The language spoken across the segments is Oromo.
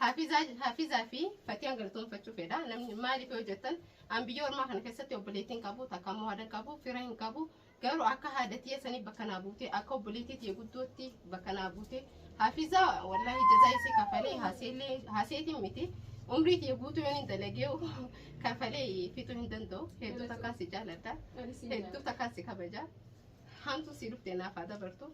Hafizaa Hafizaa fi Fatiyaan galatoomfachuu fedha. Namni maaliif yoo jettan an biyya ormaa kana keessatti obboleettii hin qabu takka immoo haadha hin qabu fira hin qabu garuu akka haadha tiyya sanii bakka naa buute akka obboleettii tiyya guddootti bakka naa buute Hafizaa wallaahi jazaa isii kafalee haaseellee haaseetiin miti umrii tiyya guutuu yoon hin dalagee kafalee fixuu hin danda'u hedduu takkaa si jaaladha hedduu takkaa si kabaja hamtuu si dhufte naaf haa dabartu.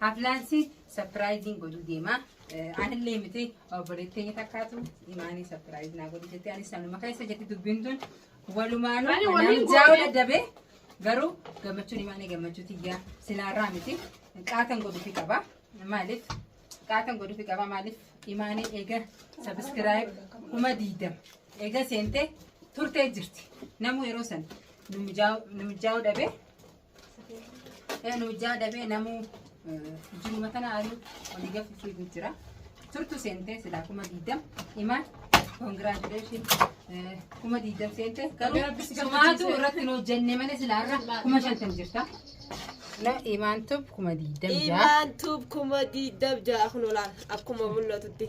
Haflaan si sapiraayiziin godhuu deema. Anillee miti obboleetti keenya takkaatu imaanii sapiraayiz naa godhi jettee anis sanuma keessa jetti dubbiin tun walumaanuu Ani anaan waliin jaa'u goone. dadhabee garuu gammachuun imaanii gammachuu tiyyaa silaarraa miti qaatan godhuufi qaba maaliif qaatan godhuufi qaba maaliif imaanii eega sabiskiraayib kuma diidama eega seentee turtee jirti namuu yeroo san nu mijaa'u dhabee Enu ijaa dhabee namuu jiruma tana ariu olii gafi fiigu jira. Turtu seentee silaa kuma diidam imaan congratulation kuma diidam seentee garuu sumaatu irratti hin hojjenne malee silaa irra kuma shantam jirta. No imaan tub kuma diidam jaa. Imaan tub kuma diidam jaa kun olaan akkuma mul'atutti.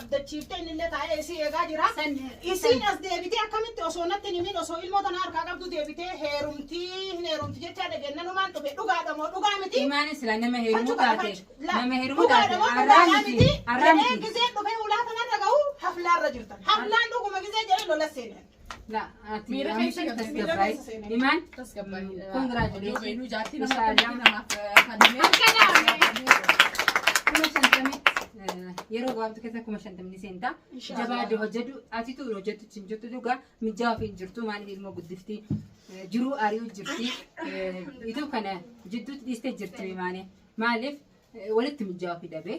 abdachiiftee innillee taa'ee isii eegaa jira. Isiin as deebitee akkamitti osoo natti hin himin osoo ilmoo tanaa harkaa qabdu deebitee heerumtii hin heerumti jechaa dhageennanumaan dhufe dhugaadha moo dhugaa miti. Imaane sila nama heerumuu Fachu kana taate. fachu. La. Nama heerumuu taate. Dhugaadha moo Arraa dhugaadhaa miti. miti. Arraa Jedhee miti. gizee dhufee ulaa kanarra gahu haflaarra jirtan. Haflaan dhuguma gizee jedhee lola seenan. Miira keessa tasgabbaa'e. Imaan Congratulations. kuma shantamii yeroo gabaabtu keessa kuma shantamni seenta. Jabaa de hojjetu atitu hojjetu cin jirtu dhugaa mijaa ofii hin jirtu maaliif ilmoo guddifti jiruu ari'uu jirti ituu kana jidduutti dhiistee jirti maane maaliif walitti mijaa ofii dhabee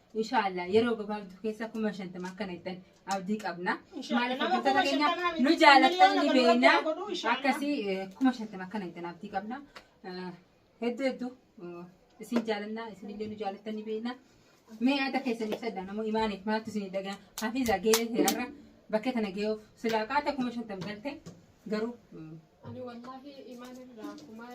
Inshaallah yeroo gabaabduu keessa kuma shantama akka nettan abdii qabna. Maaliif hojjettoota keenya nu jaalatan ni beekna. Akkasii kuma shantama akka nettan abdii qabna. Hedduu hedduu isin jaalanna isinillee nu jaalatan ni beekna. Mee yaada keessan ibsadha namoo imaaniif maaltu isin dhagaa hafiisaa gahee seerarra bakkee tana gahuuf silaa qaata kuma shantam galte garuu Ani wallahi imaan irraa kuma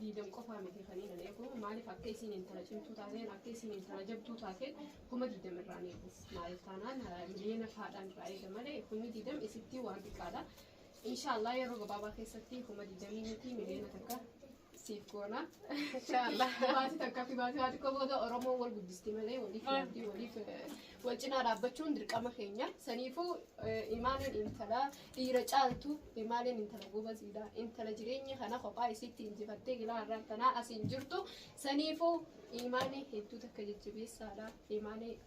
diidam qofaa miti kan inni eegu maaliif akka isiin intala cimtuu taateen akka isiin intala jabduu taateen kuma diidam irraa ni eegu maaliif taanaan miliyoona faadhaan irraa eega malee kumni diidam isittii waan xiqqaadha. Inshaallah yeroo gabaabaa keessatti kuma diidamii miti miliyoona takka siif goona. Inshallah. Baasii takka fi baasii baasii booda Oromoon wal guddisti malee waliif yaaddi waliif eh, wal cinaa dhaabbachuun dirqama keenya. Saniifuu eh, imaaleen intala dhiira caaltu imaaleen intala gobaziidha. Intala jireenya kana kophaa isiitti injifattee gilaa irraa tanaa asiin jirtu. Saniifuu imaanee hedduu takka jajjabeessaadha. Imaanee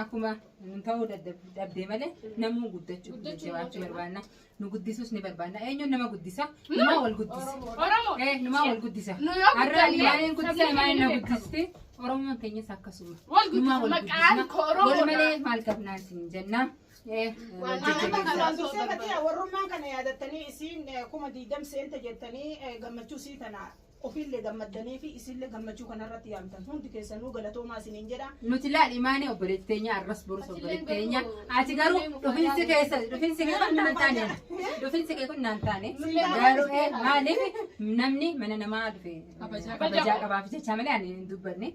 Akkuma nun ta'uu dadhab- dhabdee malee namuu guddachuu fi Guddachuu jajjabaachuu ni barbaanna. Nu guddisuus ni barbaanna. Eenyuun nama guddisa? Numaa wal guddisa. Oromoo. Eh, numaa wal guddisa. Nu yoo Har'a guddanne Imaaneen guddisa, sabni Imaaneen na keenya beekama. guddisti. Oromoon keenyas akkasuma. Wal guddisa, Numaa wal maqaan guddisna. koo Oromoodha. Wal malee maal qabnaa isin jenna. Eh, Waan wal jajjabeessa. nama kanaa Duraan dursee osoo bakka warrummaan kana yaadattanii isiin eh, kuma diidam seenta jettanii eh, gammachuu sii tana Ofiille gammaddanii fi isiille gammachuu kana irratti yaamtan hundi keessanuu galatoomaa isiniin jedha. Nuti laal imaanee obboleetti teenya arras borus obboleetti teenya. Ati garuu dhufinsi keessa dhufinsi kee kun naan taane. Dhufinsi kee kun naan taane. Garuu ee, maaliif namni mana namaa dhufe kabajaa qabaaf jecha malee ani hin dubbanne.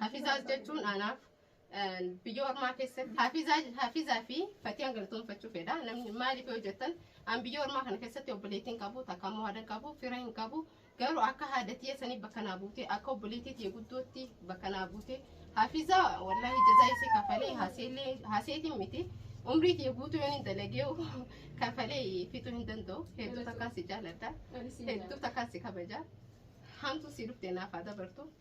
Hafizaas jechuun anaaf biyya ormaa keessatti hafizaa hafizaa fi fatiyaan galatoomfachuu fedha namni maaliif yoo jettan an biyya ormaa kana keessatti obboleettii hin qabu takka immoo haadha hin qabu fira hin qabu garuu akka haadatiya sanii bakka naa buutee akka obboleettii tiya guddootti bakka naa buutee hafizaa wallaahi jazaa isii kafalee haseellee haseetiin miti umrii tiya guutuu yoon hin dalagee kafalee fixuu hin danda'u hedduu takkaa si jaaladha hedduu takkaa si kabaja hamtuu si dhufte naaf haa dabartu.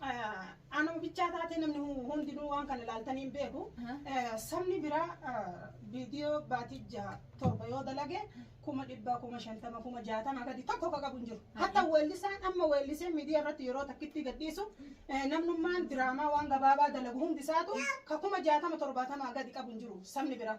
Anuma bichaa taatee namni hundinuu waan kana ilaaltanii hin beeku. Sabni biraa viidiyoo baatii jaha torba yoo dalage kuma dhibbaa kuma shantama kuma jaatama gadi tokko ka qabu hin jiru. Hatta weellisaan amma weellisee miidiyaa irratti yeroo takkitti gadhiisu namnummaan diraamaa waan gabaabaa dalagu hundi isaatu ka kuma jaatama torbaatama gadi qabu hin jiru sabni biraa.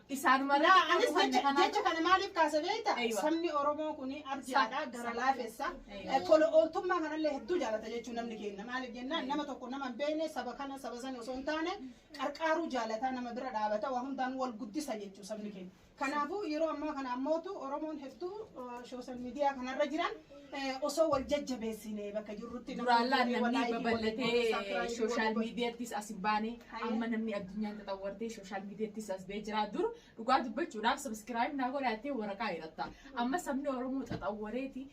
Isaan malee Laa anis kan jecha kanaa- jecha kana maaliif kaase beekta? Eeywa. Sabni Oromoo kun arjaadha, gara laafessa. Eeywa. Eh, Tola ooltummaa kanallee hedduu jaalata jechuun namni keenya. Maaliif jennaan nama tokko nama hin beekne saba kana saba sana osoo hin taane qarqaaruu jaalataa nama bira dhaabata waa hundaan wal guddisa jechuu sabni keenya. Kanaafuu yeroo ammaa kana ammootu Oromoon hedduu sooshaal miidiyaa kanarra jiran osoo wal jajjabeessine bakka jirrutti duraan laan namni babal'atee sooshaal miidiyaattis as hin baane amma namni addunyaan xaxawwartee sooshaal miidiyaattis as ba'ee jira dur dhugaa dubbachuudhaaf sabiskiraayib naa godha jettee waraqaa hidhatta amma sabni oromoo xaxawwareeti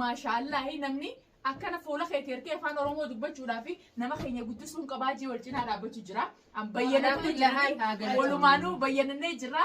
maashaallaahi namni akkana fuula keetii ergee afaan oromoo dubbachuudhaa fi nama keenya guddisuun qabaa jee wal cinaa dhaabbachuu jira. An bayyanamnee Alhamdulillah, haa jirra. galatu. Walumaanuu bayyanamnee jirra.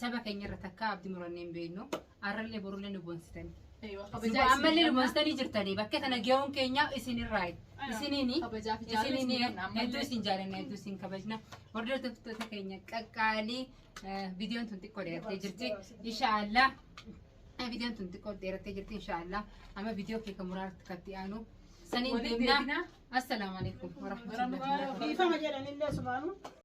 Saba keenyarra takkaa abdi murannee hin beeknu. Arrallee borullee nu boonsitani. Ammallee nu boonsitanii jirtanii bakka tana geewuun keenya isinirraa isiniini isiniini hedduu isin jaalanna hedduu isin kabajna hordoftoota keenya qaqqaalii viidiyoon tun xiqqoo dheerattee jirti inshaallah viidiyoon tun xiqqoo dheerattee jirti inshaallah amma viidiyoo kee kan muraarratti katti aanu saniin deemna assalaamu alaikum warahmatullahi wabarakatuh. Dhiifama jedhanillee sumaanuu.